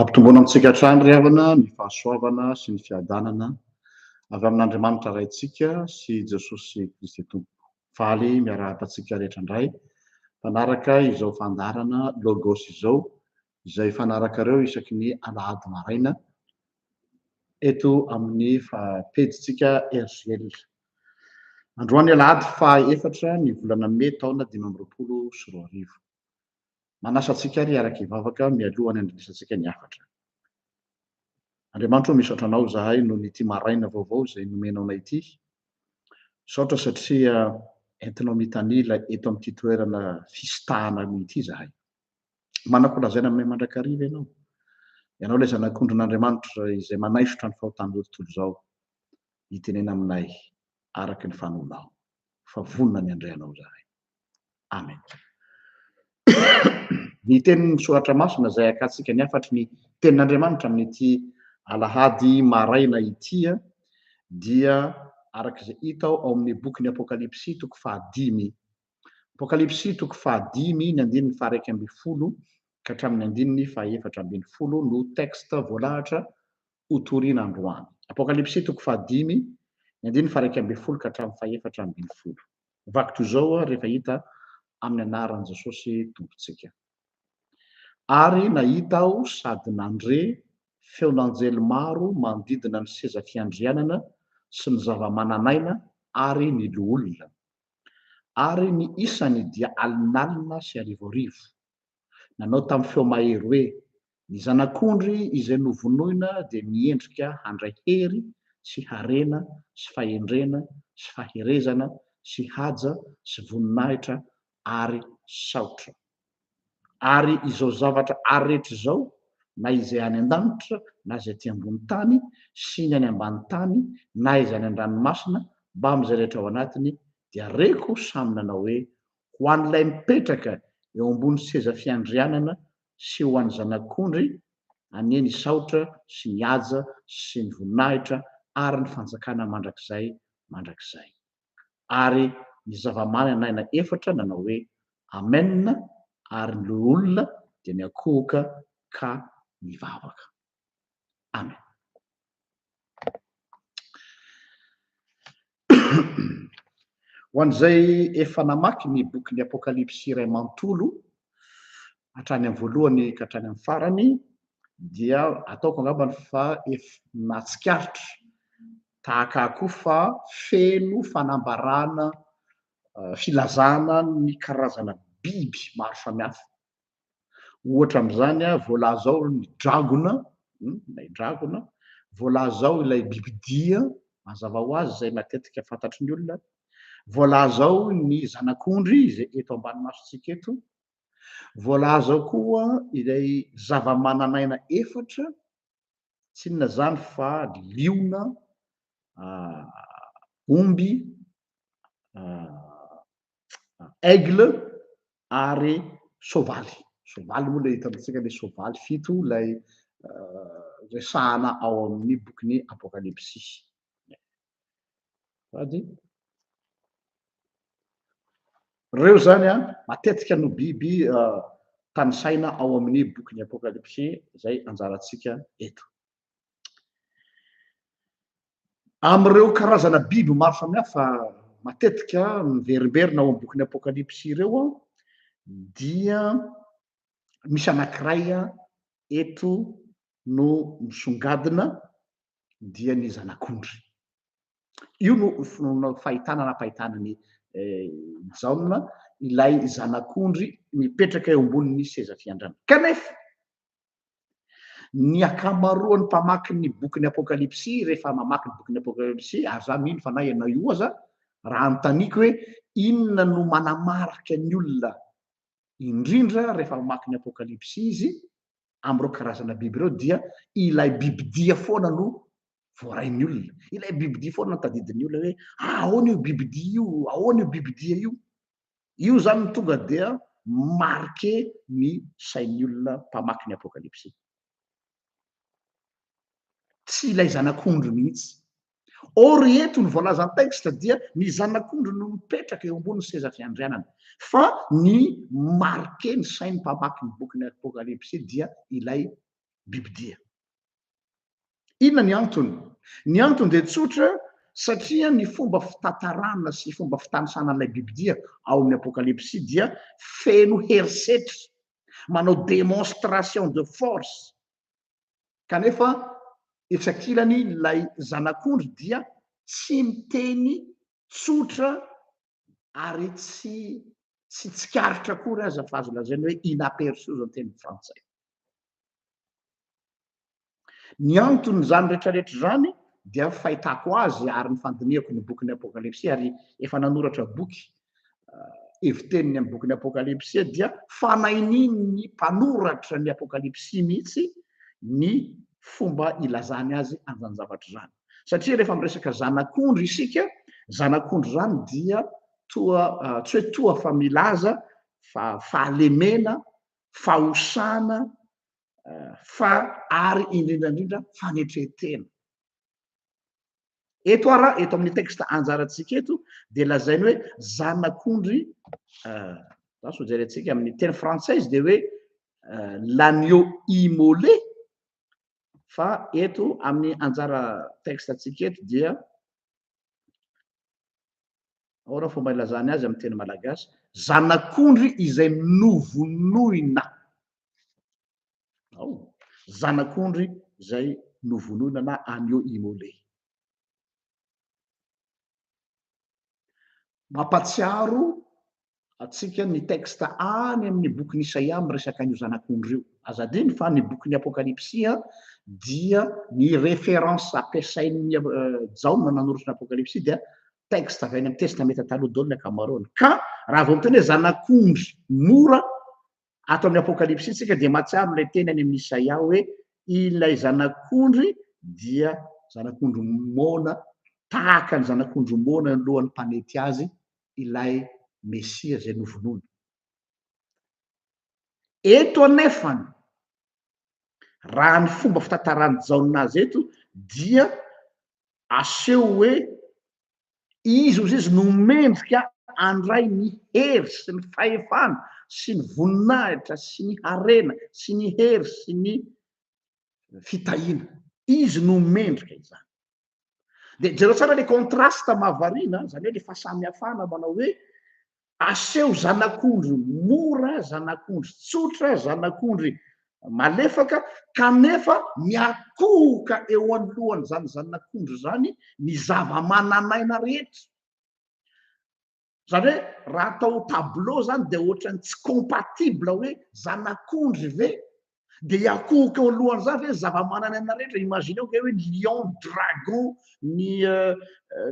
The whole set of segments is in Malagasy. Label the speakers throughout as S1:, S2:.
S1: Ampitomboana amintsika hatrany ry havana ny fahasoavana sy ny fiadanana avy amin'Andriamanitra Raintsika sy Jesosy Kristy Tompo. Faly miarahaba antsika rehetra indray mpanaraka izao fandaharana Logos izao izay hifanarakareo isaky ny alahady maraina eto amin'ny pejintsika RJL. Androany alahady faha efatra ny volana mey taona dimy amby roapolo sy roa arivo. Manasa antsika ary hiaraka hivavaka mialoha ny handrenesantsika ny hafatra. Andriamanitro, misaotra anao izahay noho ity maraina vaovao izay nomenao anay ity. Misaotra satria entinao mitanila eto amin'ity toerana fisitahana ity izahay. Manako lazaina aminay mandrakariva ianao. Ianao ilay Zanak'ondrin'Andriamanitra izay manaisotra ny fahotan'izao tontolo izao. Itenena aminay araka ny fanonao fa vonona ny handray Anao izahay. Amen. Ny tenin'ny Soratra Masina izay hakantsika ny hafatry ny tenin'Andriamanitra amin'ity alahady maraina ity dia araka izay hita ao amin'ny bokin'ny Apokalypsy toko fahadimy Apokalypsy toko fahadimy ny andininy faha-iraika ambin'ny folo ka hatramin'ny andininy faha-efatra ambin'ny folo no texte voalahatra hotorina androany. Apokalypsy toko fahadimy ny andininy faha-iraika ambin'ny folo ka hatramin'ny faha-efatra ambin'ny folo. Vaky toy izao ary rehefa hita amin'ny anaran'i Jesosy Tompontsika. Ary nahita aho sady nandre feon'anjely maro manodidina ny seza fiandrianana sy ny zava-manan'aina ary ny loholona. ary ny isany dia alinalina sy arivoarivo. Nanao tamin'ny feo mahery hoe, Ny Zanak'ondry izay novonoina dia miendrika handray hery sy harena sy fahendrena sy faherezana sy haja sy voninahitra ary saotra. ary izao zavatra ary rehetra izao, na izay any an-danitra, na izay aty ambony tany, sy ny any ambany tany, na izay any an-dranomasina, mbamin'izay rehetra ao anatiny, dia reko samy nanao hoe, Ho an'ilay mipetraka eo ambony seza fiandrianana, sy ho an'ny Zanak'ondry, anie ny saotra, sy ny haja, sy ny voninahitra, ary ny fanjakana mandrakizay mandrakizay. ary ny zava-maina naina efatra nanao hoe, Amen, ary ny loholona dia niankohoka ka nivavaka. Amen. Ho an'izay efa namaky ny bokin'ny Apokalypsy iray manontolo, hatrany amin'ny voalohany ka hatrany amin'ny farany, dia ataoko angambany fa efa nahatsikaritra Tahaka ahy koa fa feno fanambarana filazana ny karazana biby maro samihafa. Ohatra amin'izany, voalaza ao ny dragona, ilay dragona, voalaza ao ilay bibidia, mazava ho azy, izay matetika fantatry ny olona, voalaza ao ny zanak'ondry izay eto ambany masontsika eto, voalaza ao koa ilay zavamananaina efatra Tsy inona izany fa liona, omby, aigle ary soavaly. Soavaly moa ilay hitantsika ilay soavaly fito ilay resahana ao amin'ny bokin'ny Apokalypsy. Ady. Reo zany a matetika no biby tanisaina ao amin'ny bokin'ny Apokalypsy izay anjarantsika eto. Amin'ireo karazana biby maro samihafa matetika miverimberina ao amin'ny bokin'ny Apokalypsy ireo dia misy anankiray eto no misongadina dia ny zanak'ondry. Io no finoana fahitana nampahitana an'i Jaona ilay zanak'ondry mipetraka eo ambonin'ny seza fiandrana. Kanefa, ny ankamaroan'ny mpamaky ny bokin'ny Apokalypsy, rehefa mamaky ny bokin'ny Apokalypsy, ary izaho mino fa na ianao io aza, raha anontaniako hoe inona no manamarika ny olona indrindra rehefa mamaky ny Apokalypsy izy, amin'ireo karazana biby ireo dia ilay bibidia foana no voarain'ny olona. Ilay bibidia foana no tadidin'ny olona hoe ahoana io bibidia io, ahoana io bibidia io. Io izany no tonga dia marqué ny sain'ny olona mpamaky ny Apokalypsy. Tsy ilay zanak'ondry mihitsy Or eto ny voalazan'ny texte dia ny zanak'ondry no mipetraka eo ambonin'ny seza fiandrianana. Fa ny marquer ny sain'ny mpamaky ny bokin'ny Apokalypsy dia ilay bibidia. Inona ny antony? Ny antony dia tsotra satria ny fomba fitantarana sy fomba fitanisana an'ilay bibidia ao amin'ny Apokalypsy dia feno herisetra, manao démonstration de force, Kanefa etsy ankilany ilay zanak'ondry dia tsy miteny tsotra ary tsy tsy tsikaritra akory aza fa azo lazaina hoe inaperçu izao ny teny frantsay. Ny anton'izany rehetrarehetra izany dia fahitako azy ary ny fandinihako ny bokin'ny Apokalypsy ary efa nanoratra boky heviteniny amin'ny bokin'ny Apokalypsy dia fanahinian'ny mpanoratra ny Apokalypsy mihitsy ny fomba ilazany azy an'izany zavatra izany. Satria rehefa miresaka zanak'ondry isika, zanak'ondry izany dia toa ah, tsy hoe toa fa milaza fa fahalemena, fahosana, ah, fa ary indrindraindrindra fanetretena. Eto ara, eto amin'ny texte anjarantsika eto dia lazainy hoe zanak'ondry euh, zany sao jerentsika amin'ny teny française dia hoe euh, l'agneau immolé fa eto amin'ny anjara texte antsika eto dia ahoana fomba ilazany azy amin'ny teny malagasy zanak'ondry izay novonoina ao, zanak'ondry izay novonoina na agneau immolé. Mampatsiaro antsika ny texte any amin'ny bokin'i Isaia miresaka an'io zanak'ondry io. Aza adino fa ny bokin'ny Apokalypsy dia ny référence ampiasain'i Jaona nanoratra ny Apokalypsy dia texte avy any amin'ny Testamenta Taloha daholo ny ankamaroany. Ka raha vao miteny hoe zanak'ondry mora Ato amin'ny Apokalypsy isika dia mahatsiaro ilay teny any amin'ny Isaia hoe ilay zanak'ondry dia zanak'ondry moana tahaka ny zanak'ondry moana ny lohan'ny mpanety azy ilay Mesia izay novonoina. Eto anefa raha ny fomba fitantaran'i Jaona azy eto dia aseho hoe Izy hozy izy no mendrika handray ny hery sy ny fahefana sy ny voninahitra sy ny harena sy ny hery sy ny fitahiana. Izy no mendrika izany. Dia jereo tsara ilay contraste mahavariana, izany hoe ilay fahasamihafana manao hoe Aseho zanak'ondry mora, zanak'ondry tsotra, zanak'ondry malefaka, kanefa miakohoka eo anoloan'izany zanak'ondry izany ny zava-manan'aina rehetra. Izany hoe raha atao tableau izany dia ohatran'ny tsy compatible hoe zanak'ondry ve Dia hiakohoka eo alohan'izany ve ny zava-manan'aina rehetra? Imagineo ve hoe ny lion, dragon, ny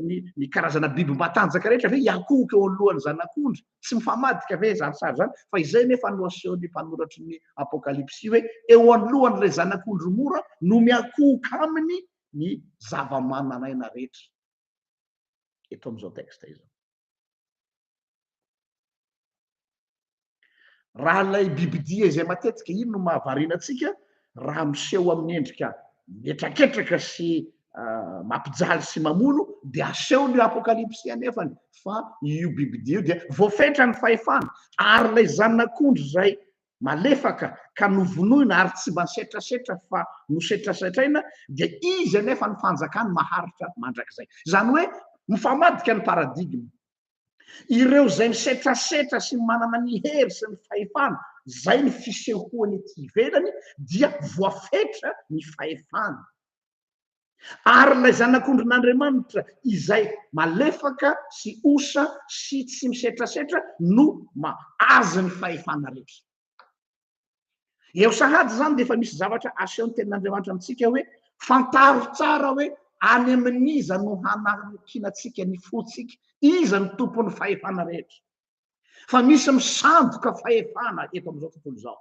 S1: ny ny karazana biby matanjaka rehetra ve hiakohoka eo alohan'ny zanak'ondry? Tsy mifamadika ve izany sary izany? Fa izay anefa no asehon'ny mpanoratry ny Apokalypsy hoe eo anoloan'ilay zanak'ondry mora no miakohoka aminy ny zava-manan'aina rehetra. Eto amin'izao texte izao. Raha ilay bibidia izay matetika iny no mahavariana antsika raha miseho amin'ny endrika mihetraketraka sy ah, mampijaly sy mamono dia asehony io apokalypsy anefany fa io bibidia io dia voafetra ny fahefana ary ilay zanak'ondry izay malefaka ka novonoina ary tsy mba setrasetra fa nosetrasetraina dia izy anefa ny fanjakany maharitra mandrakizay. Izany hoe mifamadika ny paradigme. Ireo izay misetrasetra sy manana ny hery sy ny fahefana, izay ny fisehoany ety ivelany, dia voafetra ny fahefany. Ary ilay Zanak'ondrin'Andriamanitra izay malefaka sy osa sy tsy misetrasetra no mahazo ny fahefana rehetra. Eo sahady izany dia efa misy zavatra asehon'ny tenin'Andriamanitra amintsika hoe fantaro tsara hoe any amin'iza no hanarakinantsika ny fontsika, iza no tompon'ny fahefana rehetra. Fa misy misandoka fahefana eto amin'izao tontolo izao.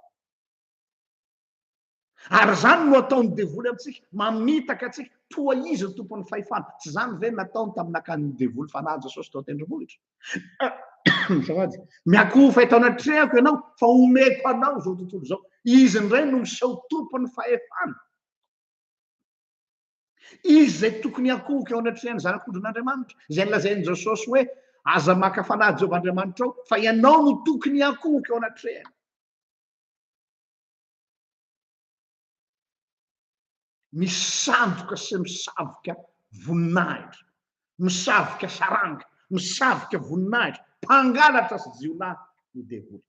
S1: Ary izany no ataon'ny devoly amintsika, mamitaka antsika toa izy ny tompon'ny fahefana. Tsy izany ve nataony tamin'akan'ny devoly fanahy Jesosy tao an-tendrombohitra? Azafady, miakofa eto anatrehako ianao fa omeko anao izao tontolo izao. Izy indray no miseho tompon'ny fahefana. Izy izay tokony hakohoka eo anatrehan'ny zanak'ondrin'Andriamanitra, izay nilazain'i Jesosy hoe aza maka fanahy Jehovah Andriamanitrao, fa ianao no tokony hakohoka eo anatrehany. Misandoka sy misavika voninahitra, misavika saranga, misavika voninahitra, mpangalatra sy jiolahy ny devoly.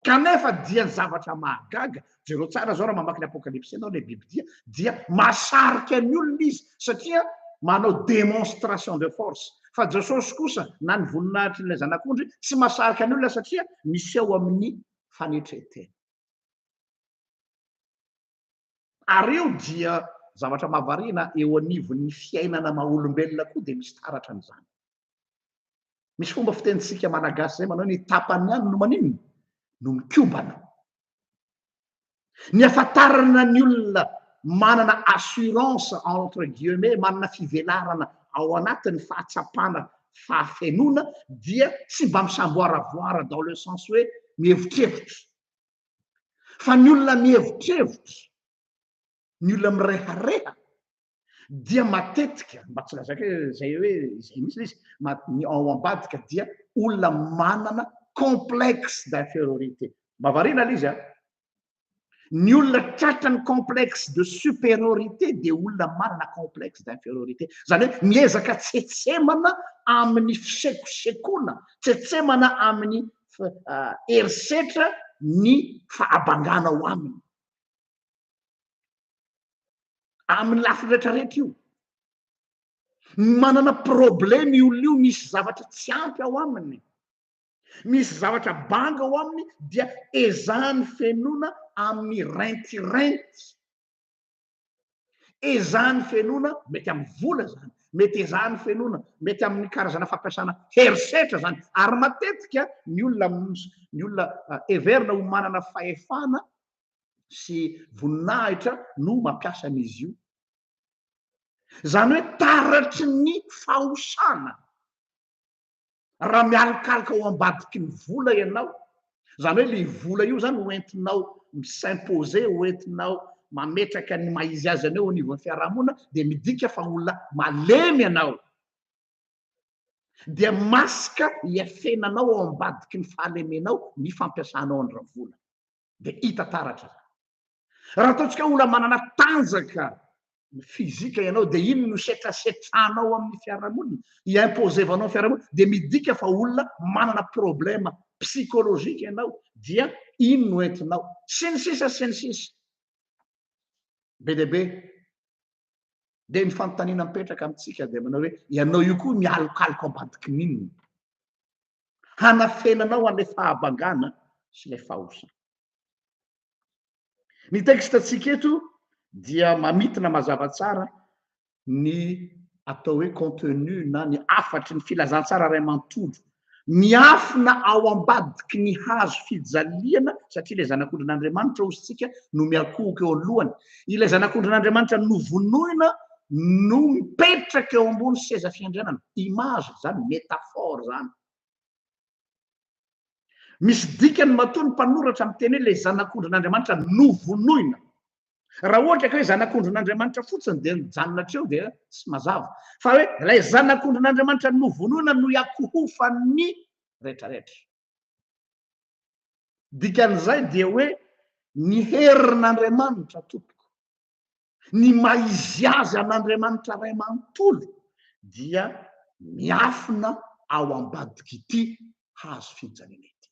S1: Kanefa dia ny zavatra mahagaga, jereo tsara izao raha mamaky ny Apokalypsy ianao, ilay bibidia, dia mahasarika ny olona izy satria manao démonstration de force. Fa Jesosy kosa na ny voninahitr'ilay Zanak'ondry tsy mahasarika ny olona satria miseho amin'ny fanetren-tena. Ary eo dia zavatra mahavariana eo anivon'ny fiainana maha olombelona koa dia misy taratra an'izany. Misy fomba fitenintsika malagasy izay manao hoe ny tapany ihany no maninona? No mikobana. Ny ahafantarana ny olona manana assurance entre guillemets, manana fivelarana ao anatin'ny fahatsapana fahafenoana dia tsy mba misamboaravoara dans le sens hoe mihevitrevitra fa ny olona mihevitrevitra ny olona mirehareha dia matetika mba tsy lazaiko hoe zay hoe izay mihitsy izy ny ao ambadika dia olona manana complexe d'infériorité mba variana lay izy a Ny olona tratran'ny complexe de supériorité dia olona manana complexe d'infériorité. Izany hoe miezaka tsetsemana amin'ny fisekosekoana, tsetsemana amin'ny ah, herisetra ny fahabangana ao aminy. Amin'ny lafiny rehetrarehetra io. Manana problème io olona io, misy zavatra tsy ampy ao aminy. Misy zavatra banga ao aminy dia ezahany fenoina amin'ny rentirenty. Ezahany fenoina, mety amin'ny vola izany, mety ezahany fenoina, mety amin'ny karazana fampiasana herisetra izany. Ary matetika ny olona ny olona heverina ho manana fahefana sy voninahitra no mampiasa an'izy io. Izany hoe taratry ny fahosana. Raha mialokaloka ao ambadiky ny vola ianao, izany hoe ilay vola io izany ho entinao mi-s'imposer, ho entinao mametraka ny maha izy azy anao eo anivon'ny fiarahamonina, dia midika fa olona malemy ianao. Dia masque hiafenanao ao ambadiky ny fahalemenao ny fampiasanao ny ravola. dia hita taratra. Raha ataontsika olona manana tanjaka fizika ianao dia iny no setrasetranao amin'ny fiarahamonina, imposevanao amin'ny fiarahamonina, dia midika fa olona manana problema psikolojika ianao, dia iny no entinao. Sy ny sisa sy ny sisa. Be dia be. Dia ny fanontaniana mipetraka amintsika dia manao hoe ianao io koa mialokaloka ambadiky n'inona? hanafenanao an'ilay fahabangana sy ilay fahaosa. Ny texte-ntsika eto dia mamintina mazava tsara ny atao hoe contenu na ny hafatry ny filazantsara iray manontolo miafina ao ambadiky ny hazo fijaliana satria ilay zanak'ondrin'Andriamanitra ozintsika no miakohoka eo alohany. Ilay zanak'ondrin'Andriamanitra novonoina no mipetraka eo ambony seza fiandrianana. Image izany, métaphore izany. Misy dikany matoa ny mpanoratra miteny hoe ilay zanak'ondrin'Andriamanitra novonoina. Raha ohatra ka hoe zanak'ondrin'Andriamanitra fotsiny dia mijanona hatreo dia tsy mazava. Fa hoe ilay zanak'ondrin'Andriamanitra novonoina no iakohofan'ny rehetrarehetra. Dikan'izay dia hoe ny herin'Andriamanitra tompoko. Ny maha izy azy an'Andriamanitra Ray manontolo dia miafina ao ambadik'ity hazo fijaliana ity.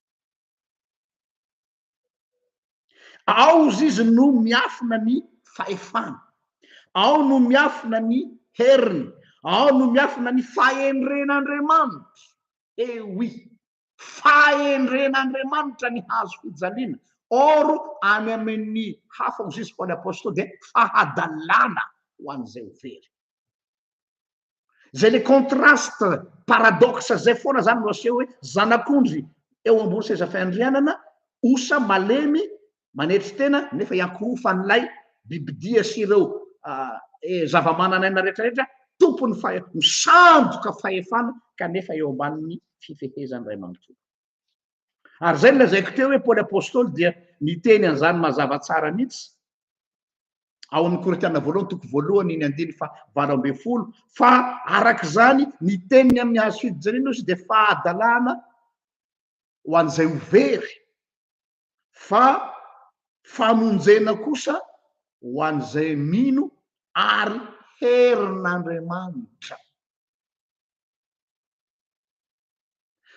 S1: Ao ozy izy no miafina ny fahefany, ao no miafina ny heriny, ao no miafina ny fahendren'Andriamanitra. Ewi, fahendren'Andriamanitra ny hazo fijaliana, or any amin'ny hafa hoy Jesosy Paoly Apostoly dia fahadalana ho an'izay ho very. Izay le contraste paradoxe izay foana zany no aseho hoe zanak'ondry eo ambony seza fiandrianana, osa malemy manetry tena nefa iankohofan'ilay bibidia sy ireo zava-manan'aina rehetrarehetra tompon'ny fahe-, misandoka fahefana kanefa eo ambanin'ny fifehezan'ny Ray manontolo. Ary izay nolazaiko teo hoe Paoly Apôstôly dia niteny an'izany mazava tsara mihitsy ao amin'ny Korintiana voalohany toko voalohany ny andininy fa valo ambin'ny folo fa araka izany ny teniny amin'ny hazo fidijanina izy dia fahadalana ho an'izay ho very fa famonjena kosa ho an'izay mino ary herin'Andriamanitra.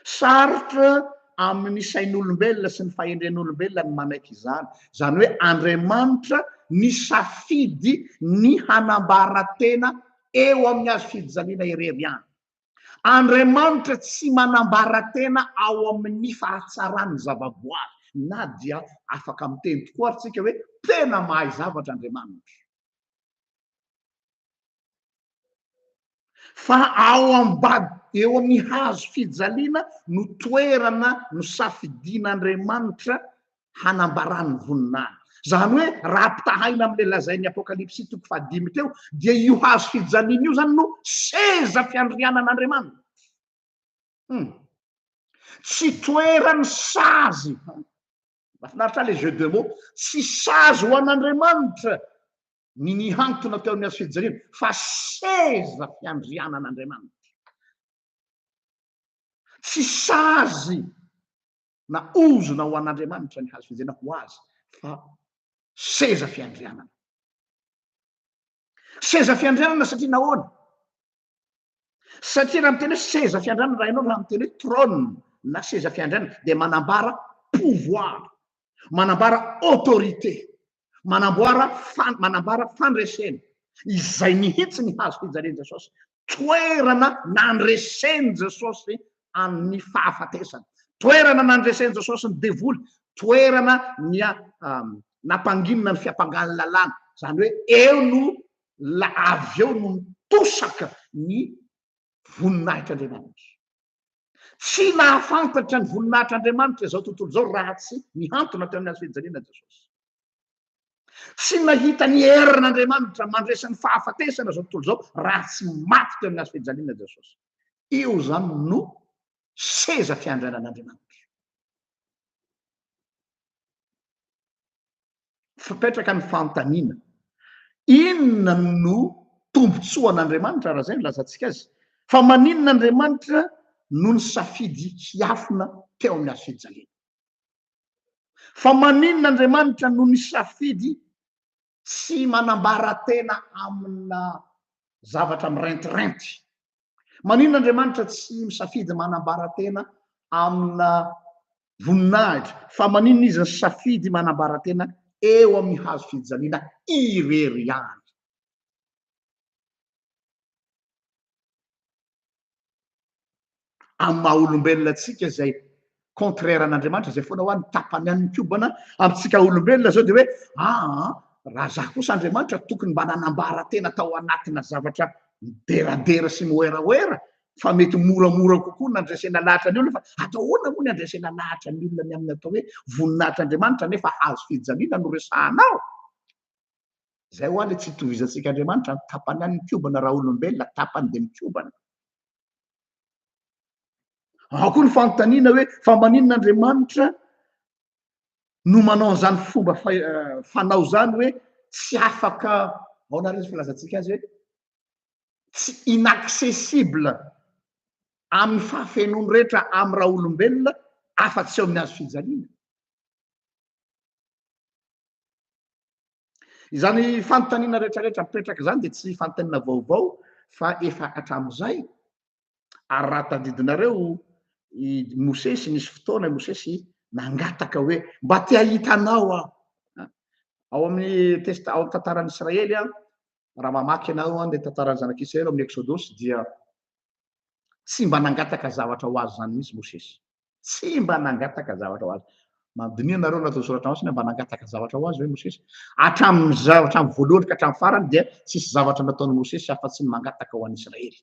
S1: Sarotra amin'ny sain'olombelona sy ny fahendren'olombelona ny manaiky izany, izany hoe Andriamanitra nisafidy ny hanambara tena eo amin'ny hazo fijaliana irery ihany. Andriamanitra tsy manambara tena ao amin'ny fahatsaran'ny zavaboary, na dia afaka miteny tokoa ary tsika hoe tena mahay zavatra Andriamanitra. Fa ao ambad eo amin'ny hazo fijaliana no toerana nosafidian'Andriamanitra hanambarany voninahiny. Zany hoe raha ampitahaina amle lazainy apokalypsy toko faha dimy teo dia io hazo fijaliana io zany no seza fiandrianan'Andriamanitra. Hum. Tsy toerany sazy. Mafinaritra le jeu de mots. Tsy sazy ho an'Andriamanitra ny nihantona teo amin'ny hazo fijaliana fa seza fiandrianan'Andriamanitra. Tsy sazy na ozona ho an'Andriamanitra ny hazo fijena ho azy fa seza fiandrianana. Seza fiandrianana satria nahoana? Satria raha miteny hoe seza fiandrianana raha ianao raha miteny hoe trône na seza fiandrianana dia manambara pouvoir, manambara autorité. manamboara fan, manambara fandresena izay mihitsy ny hazo fijalian'i Jesosy, toerana nandresen'i Jesosy amin'ny fahafatesana, toerana nandresen'i Jesosy ny devoly, toerana nia, um, nampanginina ny fiampangan'ny lalàna, izany hoe eo no la, avy eo no mitosaka ny voninahitr'Andriamanitra. Tsy nahafantatra ny voninahitr'Andriamanitra izao tontolo izao raha tsy nihantona teo amin'ny hazo fijaliana Jesosy. Tsy nahita ny herin'Andriamanitra mandresy ny fahafatesana izao tontolo izao raha tsy maty teo amin'ny hazo fijaliana Jesosy. Io izany no seza fiandrianan'Andriamanitra. fipetraka ny fanontaniana, inona no tombontsoan'Andriamanitra raha izay no lazantsika azy? Fa maninona Andriamanitra no nisafidy hiafina teo amin'ny hazo fijaliana? Fa maninona Andriamanitra no nisafidy tsy manambara tena amina zavatra mirentireinty? Maninona Andriamanitra tsy misafidy manambara tena amina voninahitra fa maninona izy nisafidy manambara tena eo amin'ny hazo fijaliana irery ihany? Amin'ny maha olombelona antsika izay contraire an'Andriamanitra izay foana hoa ny tapany any mikobana amintsika olombelona zao de hoe aa raha za kosa Andriamanitra tokony mba nanambara tena tao anatina zavatra mideradera sy mihoerahoera fa mety moramora kokoa nandresena lahatra ny olona fa atao ahoana moa ny andresena lahatra ny olona ny amin'ny atao hoe voninahitr'Andriamanitra nefa hazo fijaliana no resahanao zay hoa le tsy itovizantsika Andriamanitra ny tapany any mikobana raha olombelona tapany de mikobana Ao koa ny fanontaniana hoe fa maninona Andriamanitra no manao an'izany fomba eh, fanao izany hoe tsy afaka aona ary izy filazantsika azy hoe tsy inaccessible amin'ny fahafenony rehetra amin'ny raha olombelona afa-tsy eo amin'ny azo fijaliana. Izany fanontaniana rehetrarehetra mipetraka izany dia tsy fanontaniana vaovao fa efa hatramin'izay, ary raha tadidinareo i Mosesy, nisy fotoana i Mosesy nangataka hoe mba te hahita anao aho. Ao amin'ny testa, ao amin'ny tantaran'ny Israely, raha mamaky ianao ny tantaran'ny zanak'Israely ao amin'ny Eksodosy dia tsy mba nangataka zavatra ho azy izany mihitsy Mosesy. Tsy mba nangataka zavatra ho azy. Mandiniha nareo nareo soratra masina mba nangataka zavatra ho azy ve Mosesy? Hatramin'ny hatramin'ny voalohany ka hatramin'ny farany dia tsisy zavatra nataon'i Mosesy afa tsy ny mangataka ho an'Israely.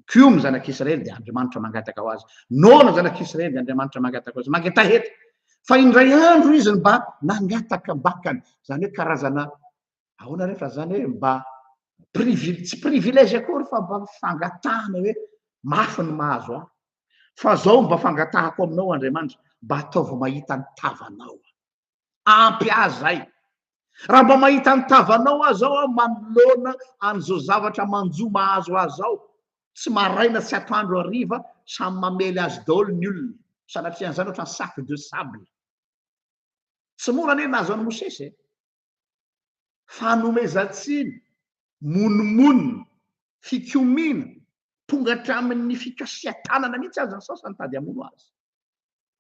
S1: Koa ny zanak'Israely dia Andriamanitra mangataka ho azy. Noana zanak'Israely dia Andriamanitra mangataka ho azy. Mangetaha eto. Fa indray andro izy mba nangataka bakany. Izany hoe karazana Ahoana re fa zany hoe mba privil tsy privilège akory fa mba fangatahana hoe mafy ny mahazo ahy fa zao mba fangatahako aminao Andriamanitra mba ataovy mahita ny tavanao ampy ahy zay raha mba mahita ny tavanao aho zao aho manoloana an'izao zavatra manjo mahazo ahy zao tsy maraina tsy atoandro hariva samy mamely azy daholo ny olona sanatria an'izany ohatran'ny sac de sable tsy mora anie nahazo an'i Mosesy e fanomezan-tsiny, monomonona, fikomiana, tonga hatramin'ny fikasihan-tanana mihitsy aza ny sasany mitady hamono azy.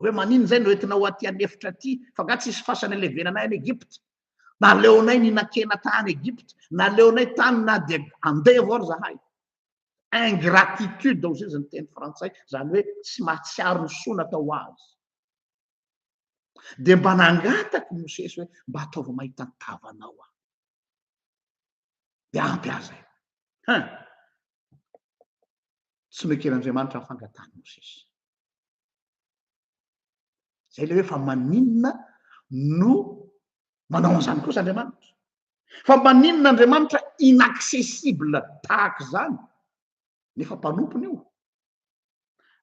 S1: Hoe maninona izay no entinao aty an'efitra aty, fa angaha tsy hisy fasana ilevenanay any Egypta? Naleonay nihinan-kena tany Egypta, naleonay tany na dia handeha avao ry zahay. Ingratitude hoy izy ny teny frantsay, izany hoe tsy mahatsiaro ny soa natao azy. dia mba nangataka i Mosesy hoe, Mba ataovy mahita ny tavanao aho. Dia ampy ahy izay. Hein! Tsy noeken'Andriamanitra ny fangatahan'i Mosesy. Izay ilay hoe fa maninona no manao an'izany kosa Andriamanitra? Fa maninona Andriamanitra inaccessible tahaka izany? nefa mpanompony io.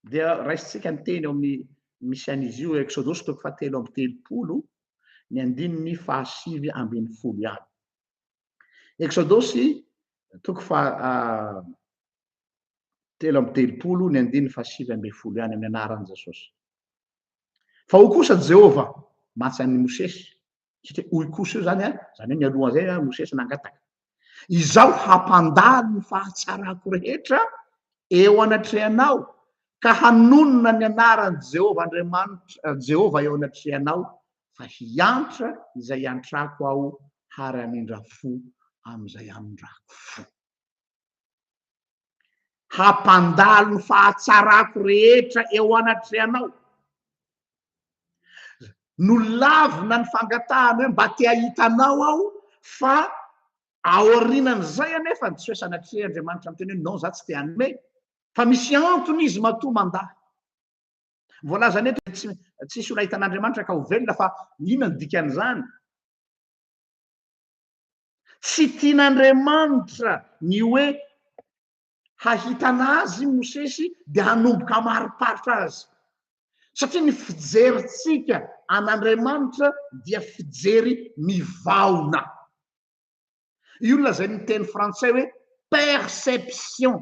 S1: Dia raisintsika ny teny ao amin'ny misy an'izy io, Eksodosy toko fahatelo amby telopolo, ny andininy fahasivy ambin'ny folo ihany. Eksodosy toko fahatelo ah, amby telopolo, ny andininy fahasivy ambin'ny folo ihany amin'ny anaran'i Jesosy. Fa ho kosa Jehovah, matsan'i Mosesy, satria hoy kosa io zany a, zany hoe mialohan'izay a Mosesy nangataka, Izaho hampandalo ny fahatsarako rehetra eo anatrehanao ka hanonona ny anaran'i Jehovah Andriamanitra, Jehovah eo anatrehanao, fa hiantra izay iantrako aho ary hamindra fo amin'izay hamindrako fo. Hampandalo ny fahatsarako rehetra eo anatrehanao. Nolavina ny fangatahany hoe mba te hahita anao aho fa aorianan'izay anefa tsy hoe sanatria Andriamanitra miteny hoe non za tsy te hanome fa misy antony izy matoa mandà. Voalazany eto dia tsy tsisy olona ahita an'Andriamanitra ka ho velona fa inona ny dikan'izany? Tsy tian'Andriamanitra ny hoe hahitana azy i Mosesy dia hanomboka hamariparitra azy. Satria ny fijerintsika an'Andriamanitra dia fijery mivaona. Io lazain'ny teny frantsay hoe perception.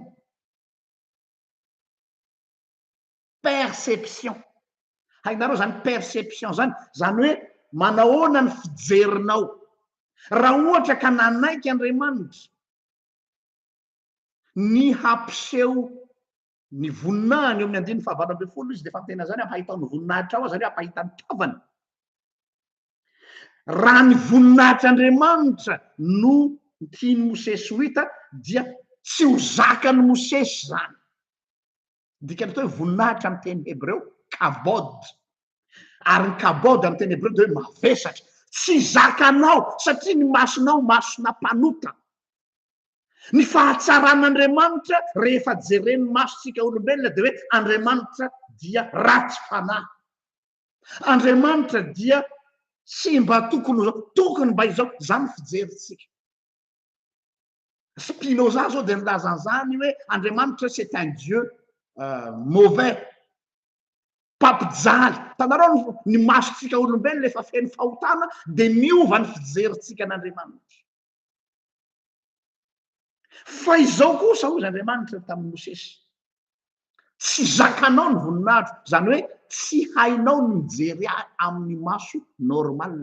S1: perception. Hainareo izany perception izany? Izany hoe manahoana ny fijerinao. Raha ohatra ka nanaiky Andriamanitra ny hampiseho ny voninahiny eo amin'ny andininy fahavalo ambin'ny folo izy dia efa miteny an'izany hampahitao ny voninahitrao aho, izany hoe hampahita ny tavany. Raha ny voninahitr'Andriamanitra no tian'i Mosesy ho hita dia tsy ho zakan'i Mosesy izany. Ny dikan'ilay teny hoe voninahitra amin'ny teny hebreo, kabod. Ary ny kabod amin'ny teny hebreo dia hoe mavesatra. Tsy zakanao satria ny masonao masona mpanota. Ny fahatsaran'Andriamanitra rehefa jeren'ny masontsika olombelona dia hoe Andriamanitra dia ratsy fanahy. Andriamanitra dia tsy mba tokony ho izao, tokony mba izao. Izany ny fijerintsika. Spinoza zao dia nilaza an'izany hoe Andriamanitra c'est un Dieu euh, mauvais, mpampijaly. Hitanareo ny, ny masontsika olombelona efa feno fahotana dia miova ny fijerintsika an'Andriamanitra. Fa izao kosa hoy Andriamanitra tamin'i Mosesy, Tsy zakanao ny voninahitro. Izany hoe tsy hainao ny mijery ahy amin'ny maso normal.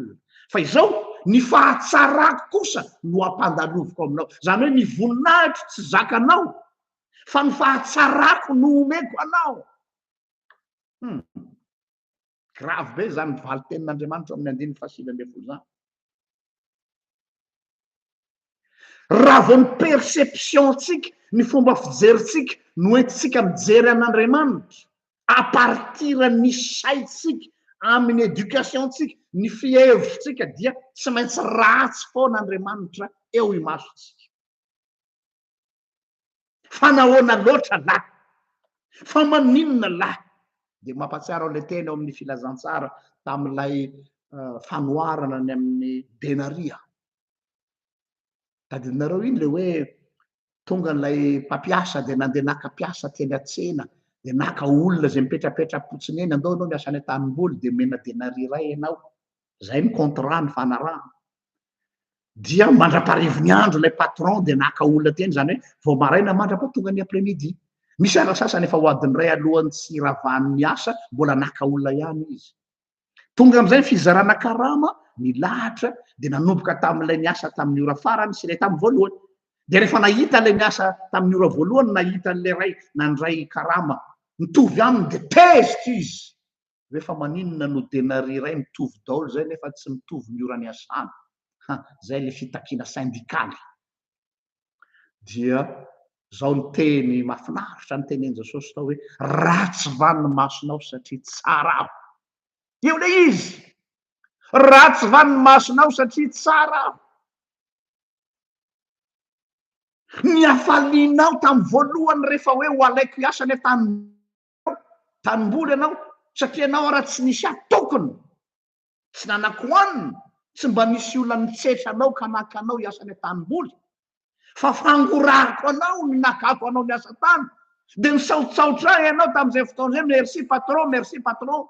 S1: Fa izao, ny fahatsarako kosa no ampandaloviko aminao. Izany hoe ny voninahitro tsy zakanao, fa ny fahatsarako no omeko anao. Hum. Grave be izany valin-tenin'Andriamanitra ao amin'ny andininy fahasivy ambin'ny folo izany. Raha vao ny perception-tsika, ny fomba fijerintsika no entintsika mijery an'Andriamanitra, à partir ny saintsika, amin'ny éducation-tsika, ny fihevitsika dia tsy maintsy ratsy foana Andriamanitra eo imasontsika. Fa nahoana loatra lah? Fa maninona lah? Dia mampahatsiaro an'ilay teny ao amin'ny Filazantsara tamin'ilay fanoharana ny amin'ny denaria. Tadidinareo iny ilay hoe tonga ilay mpampiasa dia nandeha naka mpiasa teny an-tsena dia naka olona izay mipetrapetra-potsiny eny, andao ianao miasa any an-tanimboly dia omena denaria iray ianao. Izay ny contrat nifanarahana. dia mandra-paharivon'ny andro ilay patron dia naka olona teny izany hoe vao maraina mandrapa tonga ny après midi misy andro sasany efa ho adin'ny iray alohan'ny tsy hiravan'ny asa mbola naka olona ihany izy tonga amin'izay fizarana karama ny lahatra dia nanomboka tamin'ilay ny asa tamin'ny ora farany sy ilay tamin'ny voalohany dia rehefa nahita ilay ny asa tamin'ny ora voalohany nahita an'ilay ray nandray karama mitovy aminy dia tezitra izy Hoe fa maninona no denari iray mitovy daolo zay nefa tsy mitovy ny ora niasana? Ha, zay le fitakiana syndikaly. Dia zao ny teny mafinaritra nitenenin Jesosy tao hoe, ratsy va ny masonao satria tsara aho? Io le izy! Ratsy va ny masonao satria tsara aho? Ny hafalianao tam voalohany refa hoe ho alaiko hiasa nefa tany tanimboly ianao satria ianao raha tsy nisy ahy tokony tsy nanako anina tsy mba nisy olona nitsetra anao ka naka anao hiasa any an-tanimboly fa fangorahako anao ny nakako anao miasa tany dia misaotsaotra ahy ianao tamin'izay fotoana izay merci patron merci patron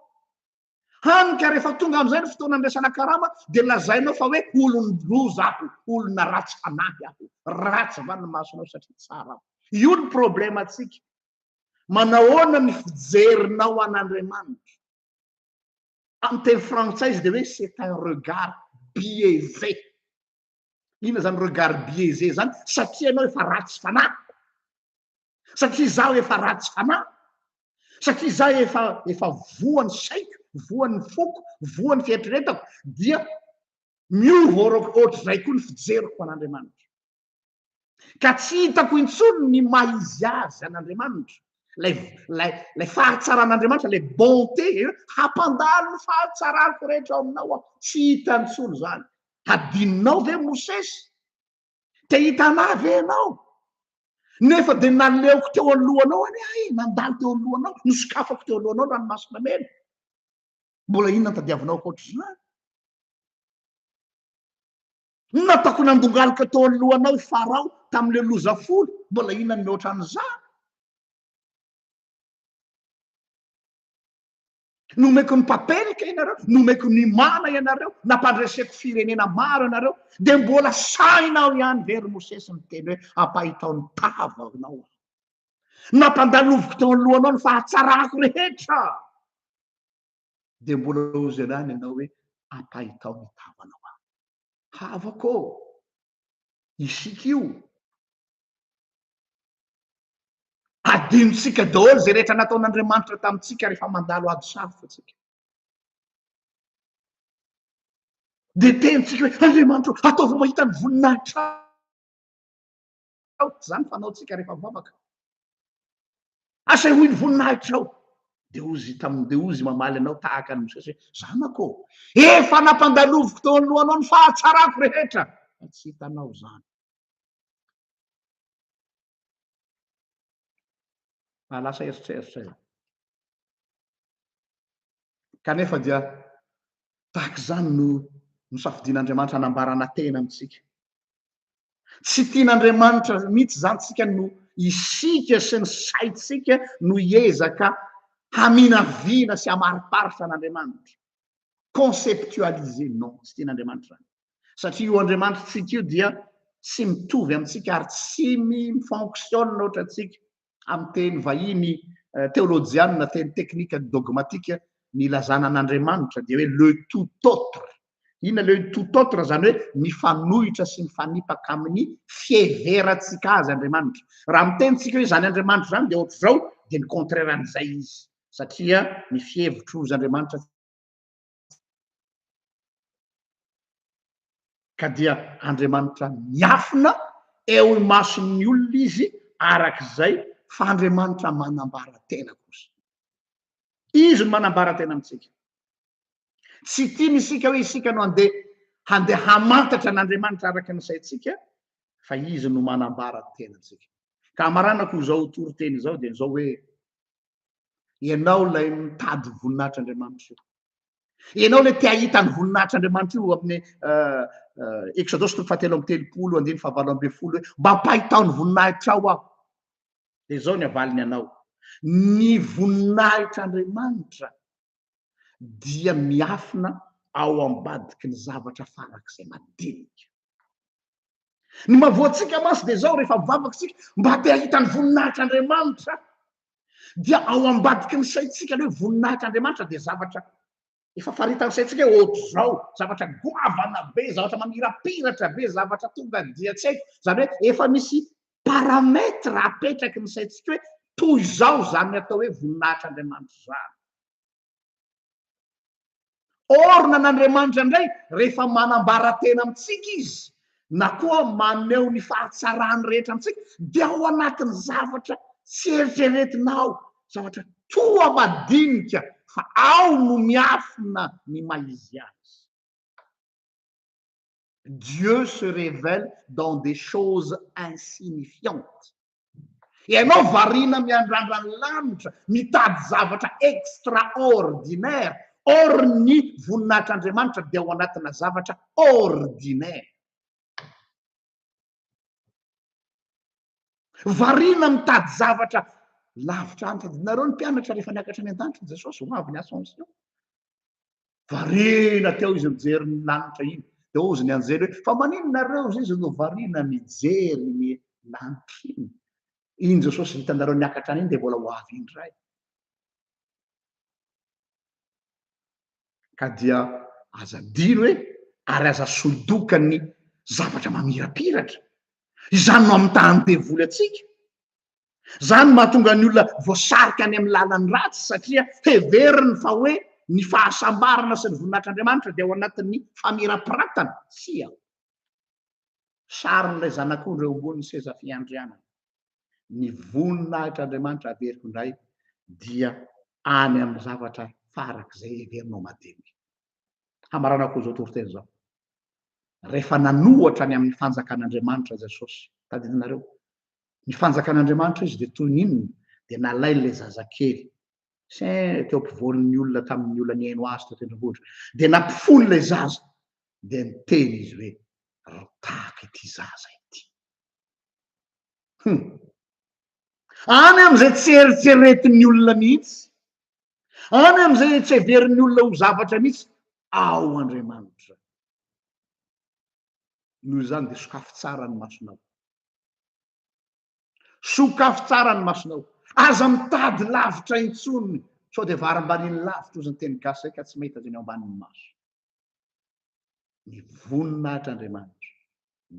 S1: Hany ka rehefa tonga amin'izay ny fotoana andraisana karama dia lazainao fa hoe olon-doza aho, olona ratsy fanahy aho, ratsy va ny masonao satria tsara aho. Io ny problemantsika. Manahoana ny fijerinao an'Andriamanitra? Amin'ny teny frantsay izy dia hoe c'est un regard biaisé. Inona zany regard biaisé zany? Satria ianao efa ratsy fanahy? Satria izaho efa ratsy fanahy? Satria izaho efa efa voan'ny saiko, voan'ny foko, voan'ny fieritreretako dia miova ohatr'izay koa ny fijeriko an'Andriamanitra. ka tsy hitako intsony ny maha izy azy an'Andriamanitra, ilay ilay ilay fahatsaran'Andriamanitra, ilay bonté, hampandalo ny fahatsarako rehetra ao aminao aho, tsy hita intsony izany. Hadinonao ve Mosesy? Te hita an'ahy ve ianao? Nefa dia naleoko teo alohanao anie ahy, nandalo teo alohanao, nosokafako teo alohanao ny ranomasina mena. Mbola inona no tadiavinao ankoatr'izany? Inona ataoko nandongalika teo anoloanao i Farao tamin'ilay loza folo? Mbola inona ny mihoatra an'izany? Nomeko ny papelika ianareo, nomeko ny mana ianareo, nampandreseko firenena maro ianareo, dia mbola sahinao ihany ve ry Mosesy miteny hoe ampahitao ny tava anao aho? Nampandaloviko teo anoloanao ny fahatsarako rehetra. dia mbola ho zailahy ny anao hoe ampahitao ny tavanao aho. Havako ô! Isika io. Adinontsika daholo izay rehetra nataon'Andriamanitra tamintsika rehefa mandalo ady sarotra tsika. Dia tenintsika hoe Andriamanitra, ataovy mahita ny voninahitra Aoka izany fanaontsika rehefa mivavaka. Asehoy ny voninahitrao. Dia hozy izy taminy, dia hozy izy mamaly anao tahaka an'i Mosesy hoe, Zanako ô, efa nampandaloviko teo anoloanao ny fahatsarako rehetra, fa tsy hitanao izany. Fa lasa eritreritra io. Kanefa dia tahaka izany no nosafidian'Andriamanitra hanambarana tena amintsika. Tsy tian'Andriamanitra mihitsy izany tsika no isika sy ny saintsika no hiezaka haminavina sy hamariparitra an'Andriamanitra. Conceptualiser, non, tsy tian'Andriamanitra izany. Satria io Andriamanitra tsika io dia tsy mitovy amintsika ary tsy mi-fonctionne ohatra antsika. amin'ny teny vahiny teolojianina, teny teknika ny dogmatika, ny ilazana an'Andriamanitra dia hoe le tout autre. Inona le tout autre? Izany hoe mifanohitra sy mifanipaka amin'ny fiheverantsika azy Andriamanitra. Raha miteny tsika hoe izany Andriamanitra izany dia ohatr'izao dia ny contraire an'izay izy satria ny fihevitro izy Andriamanitra ka dia Andriamanitra miafina eo imason'ny olona izy araka izay fa Andriamanitra manambara tena kosa. Izy no manambara tena amintsika. Tsy tiany isika hoe isika no handeha handeha hamantatra an'Andriamanitra araka ny saintsika fa izy no manambara ny tenantsika. Ka hamaranako izao toriteny izao dia izao hoe Ianao ilay mitady ho voninahitr'Andriamanitra io. Ianao ilay te hahita ny voninahitr'Andriamanitra io amin'ny euh, euh, Exodosy toko fahatelo amby telopolo, andiny fahavalo ambin'ny folo hoe mba mpahitao ny voninahitrao aho. Dia izao ny avaliny anao. Ny voninahitr'Andriamanitra dia miafina ao ambadiky ny zavatra farak'izay madinika. Ny mahavoantsika mantsy dia izao, rehefa mivavaka isika mba te hahita ny voninahitr'Andriamanitra, dia ao ambadiky ny saintsika ilay hoe voninahitr'Andriamanitra dia zavatra efa faritan'ny saintsika hoe ohatr'izao, zavatra goavana be, zavatra mamirapiratra be, zavatra tonga dia tsy haiko, izany hoe efa misy paramètre apetraky ny saintsika hoe toy izao izany atao hoe voninahitr'Andriamanitra izany. Orina an' Andriamanitra indray rehefa manambara tena amintsika izy na koa maneho ny fahatsarany rehetra amintsika dia ao anatin'ny zavatra tsy eritreretina ao, zavatra toa madinika fa ao no miafina ny maha izy azy. Dieu se révèle dans des choses insignifiantes. Ianao variana miandrandra ny lanitra, mitady zavatra extraordinaire, or ny voninahitr'Andriamanitra dia ao anatina zavatra ordinaire. Variana mitady zavatra lavitra any. Tadidinareo ny mpianatra rehefa niakatra any an-danitra i Jesosy, ho avy ny ascension. Variana teo izy mijery ny lanitra iny. Dia hozy ny anjely hoe, fa maninona reo izy izy no variana mijery ny lanitra iny? Iny Jesosy hitanareo niakatra any iny dia mbola ho avy indray. ka dia aza adino e ary aza solo-doka ny zavatra mamirapiratra, izany no amitahan'ny devoly antsika, izany no mahatonga ny olona voasarika any amin'ny lalan'ny ratsy satria heveriny fa hoe ny fahasambarana sy ny voninahitr'Andriamanitra dia ao anatin'ny famirapiratana, tsia, sarin'ilay zanak'ondry eo ambonin'ny seza fiandrianana. ny voninahitr'Andriamanitra averiko indray dia any amin'ny zavatra farak'izay heverinao madinika. Hamaranako izao toriteny izao, rehefa nanohatra ny amin'ny fanjakan'Andriamanitra Jesosy, tadidinareo, ny fanjakan'Andriamanitra izy dia toy ny inona? Dia nalainy ilay zazakely, saint teo ampovoan'ny olona tamin'ny olona nihaino azy teo tendrombohitra, dia nampifono ilay zaza, dia niteny izy hoe, Ry Tàko ity zaza ity. Hum. Any amin'izay tsy eritreretin'ny olona mihitsy, any amin'izay tsy heverin'ny olona ho zavatra mihitsy, ao Andriamanitra. Noho izany dia sokafy tsara ny masonao. Sokafy tsara ny masonao. Aza mitady lavitra intsony sao dia varimbariny lavitra ozy ny teny gasy izay ka tsy mahita izay ny ao ambanin'ny maso. ny voninahitr' Andriamanitra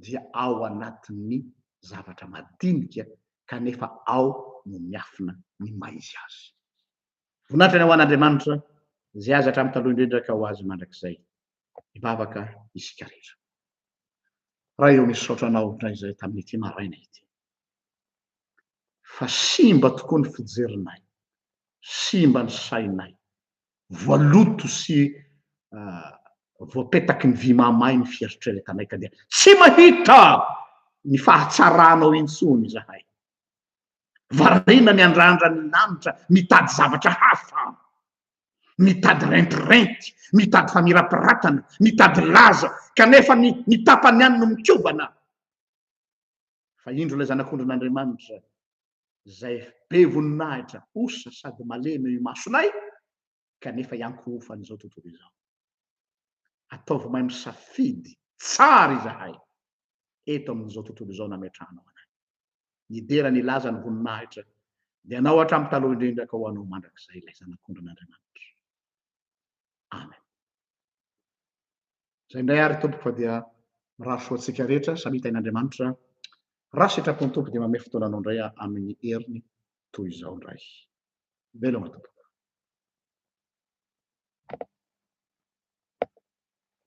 S1: dia ao anatin' ny zavatra madinika kanefa ao no miafina ny maha izy azy. Voninahitra ny ho an' Andriamanitra izay azy hatramin'ny taloha indrindra ka ho azy mandrakizay. Hivavaka isika rehetra. Ray ô misaotra Anao indray izay tamin'ity maraina ity fa simba tokoa ny fijerinay, simba ny sainay, voaloto sy voapetaky ny vy mahamay ny fiharitrao ilay tanay ka dia tsy mahita ny fahatsaranao intsony izahay. Variana miandrandra ny lanitra mitady zavatra hafa, mitady rentirenty, mitady famirapiratana, mitady laza, kanefa ny ny tapany ihany no mikobana. Fa indro ilay Zanak'ondrin'Andriamanitra izay be voninahitra osa sady malemy eo imasonay kanefa iankohofan'izao tontolo izao. Ataovy mahay misafidy tsara izahay eto amin'izao tontolo izao nametrahanao anay. Nidera nilaza ny voninahitra ny Anao hatramin'ny taloha indrindra ka ho Anao mandrakizay ilay Zanak'ondrin'Andriamanitra. Amen. Izay indray ary Tompoko fa dia mirary soa antsika rehetra samia tahin'Andriamanitra raha sitrapony Tompo dia mamehy fotoananao indray aho amin'ny heriny toy izao indray. Veloma Tompoko.